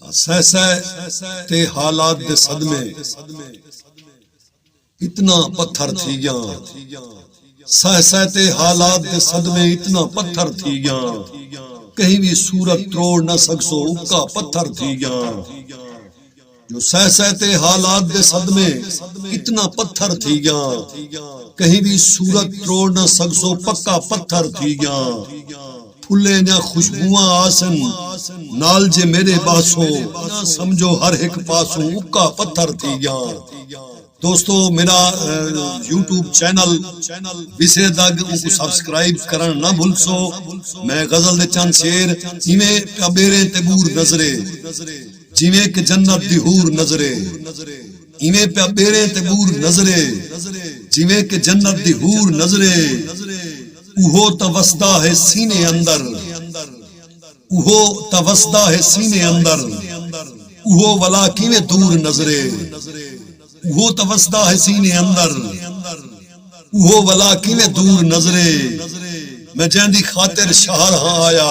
سہ سہ تے حالات دے صدمے اتنا پتھر تھی گیاں سہ سہ تے حالات دے صدمے اتنا پتھر تھی گیاں کہیں وی صورت تروڑ نہ سکسو اکا پتھر تھی گیاں جو سہ سہ تے حالات دے صدمے اتنا پتھر تھی گیاں کہیں وی صورت تروڑ نہ سکسو پکا پتھر تھی گیاں پھلیں دیاں خوشبواں آسن نال جے میڈے باسو نہ سمجھو ہر ہک پاسوں اکا پتھر تھی گیاں دوستو میڈا یوٹیوب چینل وسے دگ اونکوں سبسکرائب کرن نہ بھلسو میں غزل دے چند شعر ایویں ٹبیریں تے بور نظرے جیویں کہ جنت دی حور نظرے۔ ایویں پیا ٻیڑیں تے ٻور نظرے جیویں کہ جنت دی حور نظرے اوہو تاں وسدا ہے سینے اندر اوہو تاں وسدا ہے سینے اندر اوہو ولا کیویں دور نظرے اوہو تاں وسدا ہے سینے اندر اوہو ولا کیویں دور نظرے میں جیندی خاطر شہر ہاں آیا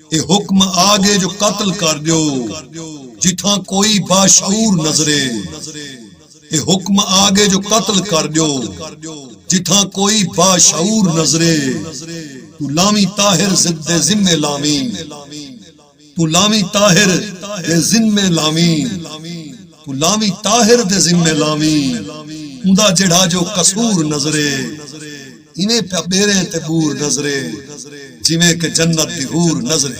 تے حکم آ ڳئے جو قتل کر ݙیو جتھاں کوئی باشعور نظرے تے حکم آ ڳئے جو قتل کر ݙیو جتھاں کوئی باشعور نظرے توں لاویں طاہر دے ذمے لاویں توں لاویں طاہر دے ذمے لاویں۔ توں لاویں طاہر دے ذمے لاویں اوندا جیڑھا جو قصور نظرے ایویں پیا ٻیریں تے ٻور نظرے جیویں کہ جنت دی حور نظرے۔